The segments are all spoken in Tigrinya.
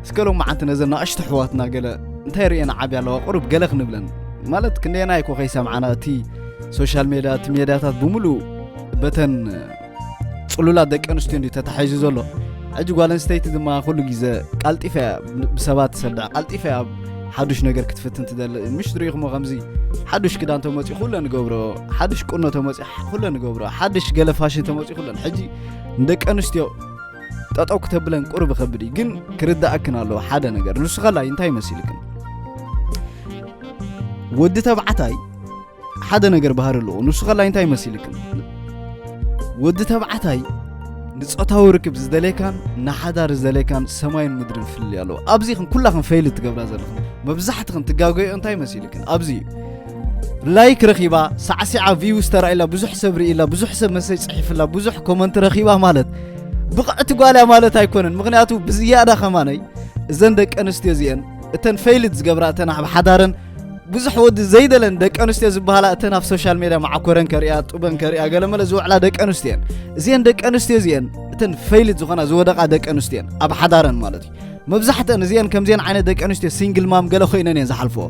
እስከ ሎማዓንቲ ነዘን ናእሽቱ ኣሕዋትና ገለ እንታይ ርእየን ዓብያ ኣለዋ ቁሩብ ገለ ክንብለን ማለት ክንደየና ይኮ ከይሰምዓና እቲ ሶሻል ሜድያ እቲ ሜድያታት ብምሉእ በተን ፅሉላት ደቂ ኣንስትዮ እንዲ ተታሒዙ ዘሎ ሕጂ ጓል ኣንስተይቲ ድማ ኩሉ ግዜ ቃልጢፈ እያ ብሰባት ትሰድዕ ቃልጢፈ እያ ሓዱሽ ነገር ክትፍትን ትደሊ ምሽ ትሪኢኹሞ ከምዚ ሓዱሽ ክዳን ተመፅኡ ኩለ ንገብሮ ሓዱሽ ቁኖ ተመፅኡ ኩለ ንገብሮ ሓዱሽ ገለ ፋሽን ተመፅኡ ኩለን ሕጂ ንደቂ ኣንስትዮ ጠጠው ክተብለን ቁርብ ይኸብድ እዩ ግን ክርዳእክን ኣለዎ ሓደ ነገር ንሱ ከላይ እንታይ መሲልክን ወዲ ተባዕታይ ሓደ ነገር ባህሪ ኣለዎ ንሱ ከላይ እንታይ መሲልክን ወዲ ተባዕታይ ንፆታዊ ርክብ ዝደለየካን ንሓዳር ዝደለየካን ሰማይን ምድርን ፍልልይ ኣለዎ ኣብዚ ክን ኩላክን ፈይል ትገብራ ዘለኽን መብዛሕትኽን ትጋገዮ እንታይ መሲልክን ኣብዚ እዩ ላይክ ረኺባ ሳዕሲዓ ቪውስ ተራኢላ ብዙሕ ሰብ ርኢላ ብዙሕ ሰብ መሰጅ ጽሒፍላ ብዙሕ ኮመንት ረኺባ ማለት ብቕዕቲ ጓልያ ማለት ኣይኮነን ምክንያቱ ብዝያዳ ከማነይ እዘን ደቂ ኣንስትዮ እዚአን እተን ፈይልት ዝገብራ እተን ኣብ ሓዳረን ብዙሕ ወዲ ዘይደለን ደቂ ኣንስትዮ ዝበሃላ እተን ኣብ ሶሻል ሜድያ ማዓኮረን ከሪያ ጡበን ከሪያ ገለመለ ዝውዕላ ደቂ ኣንስትዮ እየን እዚአን ደቂ ኣንስትዮ እዚአን እተን ፈይልት ዝኾና ዝወደቓ ደቂ ኣንስትዮ እየን ኣብ ሓዳረን ማለት እዩ መብዛሕተን እዚአን ከምዚአን ዓይነት ደቂ ኣንስትዮ ሲንግል ማም ገለ ኮይነን እየን ዝሓልፍኦ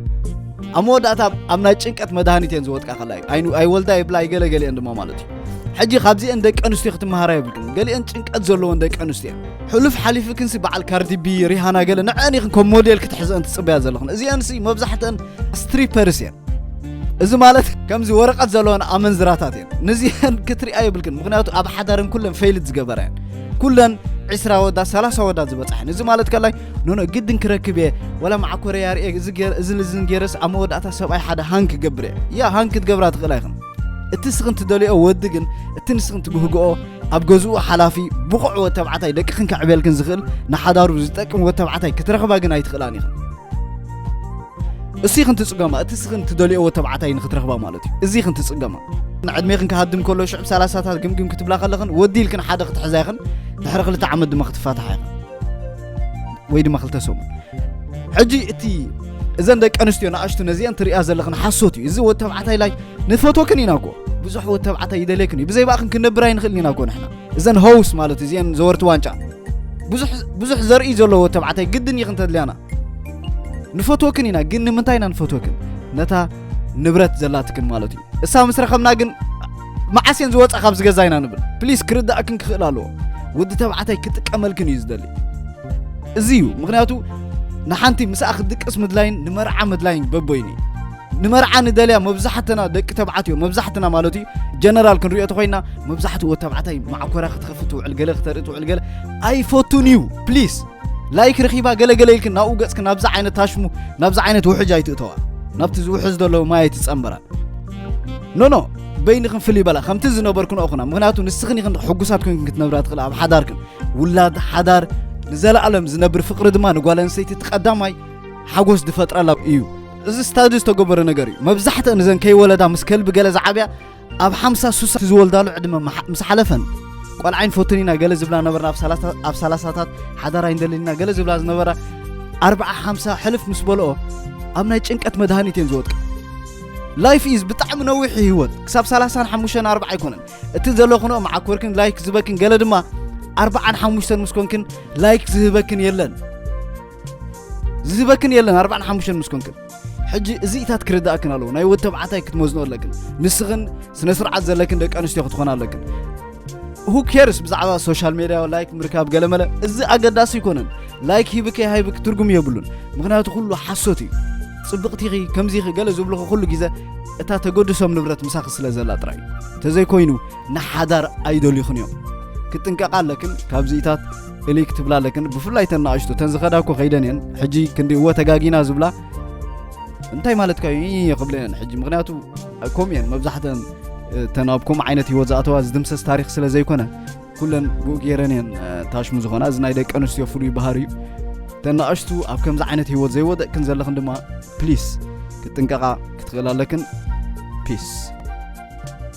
ኣብ መወዳእታ ኣብ ናይ ጭንቀት መድሃኒት እየን ዝወጥቃ ከላ እዩ ኣይወልዳ ይብላ ይገለ ገሊአን ድማ ማለት እዩ ሕጂ ካብዚአን ደቂ ኣንስትዮ ክትመሃራ የብልክን ገሊአን ጭንቀት ዘለዎን ደቂ ኣንስትዮ ሕሉፍ ሓሊፉ ክንሲ በዓል ካርዲቢ ሪሃና ገለ ንዐን ኢኽን ከም ሞዴል ክትሕዘአን ትፅበያ ዘለኽን እዚአንሲ መብዛሕተን ስትሪፐርስ እየን እዚ ማለት ከምዚ ወረቀት ዘለወን ኣመንዝራታት እየን ንዚሀን ክትሪኣ የብልክን ምክንያቱ ኣብ ሓዳረን ኩለን ፈይልት ዝገበራ እየን ኩለን ዕስራ ወዳት ሰላሳ ወዳት ዝበፅሐን እዚ ማለት ከላይ ኖኖ ግድን ክረክብ እየ ወላ መዓኮረ ያርኤ እዚ ልዝን ገይረስ ኣብ መወዳእታ ሰብኣይ ሓደ ሃን ክገብር እየ ያ ሃን ክትገብራ ትኽእላ ይኽን እቲ ስኽን ትደልኦ ወዲ ግን እቲ ንስኽን ትብህግኦ ኣብ ገዝኡ ሓላፊ ብቑዕ ወድ ተባዕታይ ደቅኽን ከዕብየልክን ዝኽእል ንሓዳሩ ዝጠቅም ወድ ተባዕታይ ክትረኽባ ግን ኣይትኽእላን ኢኽን እሲ ክንትጽገማ እቲ ሲ ክንትደልዮዎ ተባዕታይ ንክትረኽባ ማለት እዩ እዚ ክንትጽገማ ንዕድሜኽን ክሃድም ከሎ ሽዑ ሰላሳታት ግምግም ክትብላ ከለኽን ወዲ ኢልክን ሓደ ክትሕዛ ኢኽን ድሕሪ ክልተ ዓመት ድማ ክትፋትሓ ኢኽን ወይ ድማ ክልተ ሰሙን ሕጂ እቲ እዘን ደቂ ኣንስትዮ ንኣሽቱ ነዚአን ትሪእያ ዘለኽን ሓሶት እዩ እዚ ወዲ ተባዕታይ ላይ ንፈቶክን ኢና ጎ ብዙሕ ወዲ ተባዕታይ ይደልየክን እዩ ብዘይ ባእኽን ክንነብር ኣይንኽእልን ኢና ጎ ንሕና እዘን ሆውስ ማለት እዚአን ዘወርቲ ዋንጫ ብዙሕ ዘርኢ ዘለዎ ተባዕታይ ግድን እዩ ክንተድልያና ንፈትወክን ኢና ግን ንምንታይ ኢና ንፈትወክን ነታ ንብረት ዘላትክን ማለት እዩ እሳ ምስ ረኸብና ግን መዓስ እየን ዝወፃ ካብ ዝገዛ ኢና ንብል ፕሊስ ክርዳእክን ክኽእል ኣለዎ ወዲ ተባዕታይ ክጥቀመልክን እዩ ዝደሊ እዚ እዩ ምክንያቱ ንሓንቲ ምስኣ ክትድቅስ ምድላይን ንመርዓ ምድላይን በቦይኒ ንመርዓ ንደልያ መብዛሕትና ደቂ ተባዕትዮ መብዛሕትና ማለት እዩ ጀነራል ክንሪኦ ተኮይና መብዛሕትኡ ወዲ ተባዕታይ ማዕኮራ ክትኸፍት ትውዕል ገለ ክተርኢ ትውዕል ገለ ኣይፈቱን እዩ ፕሊስ ላይክ ረኺባ ገለ ገለ ኢልክን ናብኡ ገጽክን ናብዚ ዓይነት ታሽሙ ናብዚ ዓይነት ውሕጅ ኣይትእተዋ ናብቲ ዝውሕዝ ዘሎ ማይ ኣይትጸንበራ ኖኖ በይንኽን ፍልይ በላ ከምቲ ዝነበርክን ኦኹና ምክንያቱ ንስኽን ኢኽን ሕጉሳት ኮንክን ክትነብራ ትኽእል ኣብ ሓዳርክን ውላድ ሓዳር ንዘለኣለም ዝነብር ፍቕሪ ድማ ንጓል ኣንስተይቲ እቲ ቀዳማይ ሓጎስ ዝፈጥረላ እዩ እዚ ስታዲ ዝተገበረ ነገር እዩ መብዛሕትአን እዘን ከይወለዳ ምስ ከልቢ ገለ ዝዓብያ ኣብ ሓምሳ ሱሳ ዝወልዳሉ ዕድመ ምስ ሓለፈን ቆልዓ ይንፈቱን ኢና ገለ ዝብላ ነበርና ኣብ ሰላሳታት ሓዳር ኣይንደልን ኢና ገለ ዝብላ ዝነበራ ኣርባዓ ሓምሳ ሕልፍ ምስ በልኦ ኣብ ናይ ጭንቀት መድሃኒት እየን ዝወድቅ ላይፍ ኢዝ ብጣዕሚ ነዊሕ ህይወት ክሳብ ሰላሳን ሓሙሽተን ኣርባዓ ኣይኮነን እቲ ዘለኹንኦ መዓኮርክን ላይክ ዝበክን ገለ ድማ ኣርባዓን ሓሙሽተን ምስ ኮንክን ላይክ ዝህበክን የለን ዝህበክን የለን ኣርባዕን ሓሙሽተን ምስ ኮንክን ሕጂ እዚኢታት ክርዳእክን ኣለዎ ናይ ወድ ተባዕታይ ክትመዝኖ ኣለክን ንስኽን ስነ ስርዓት ዘለክን ደቂ ኣንስትዮ ክትኾና ኣለክን ሁ ኬርስ ብዛዕባ ሶሻል ሜድያ ላይክ ምርካብ ገለመለ እዚ ኣገዳሲ ኣይኮነን ላይክ ሂብከ ሃይብክ ትርጉም የብሉን ምክንያቱ ኩሉ ሓሶት እዩ ጽብቕቲኺ ከምዚኺ ገለ ዝብልኹ ኩሉ ግዜ እታ ተገድሶም ንብረት ምሳኺ ስለ ዘላ ጥራይ እዩ ተዘይኮይኑ ንሓዳር ኣይደልዩኽን እዮም ክጥንቀቓ ኣለክን ካብዚኢታት እልይ ክትብላ ኣለክን ብፍላይ ተን ንኣሽቱ ተን ዝኸዳ እኮ ከይደን እየን ሕጂ ክንዲ እወ ተጋጊና ዝብላ እንታይ ማለትካ እዩ ይ ክብለ እየን ሕጂ ምክንያቱ ከምኡ እየን መብዛሕተን ተን ኣብ ከምኡ ዓይነት ሂወት ዝኣተዋ ዝድምሰስ ታሪክ ስለ ዘይኮነ ኩለን ብኡ ገይረን እየን ታሽሙ ዝኾና እዚ ናይ ደቂ ኣንስትዮ ፍሉይ ባህር እዩ ተን ንኣሽቱ ኣብ ከምዚ ዓይነት ሂወት ዘይወደቅክን ዘለኽን ድማ ፕሊስ ክጥንቀቓ ክትኽእል ኣለክን ፒስ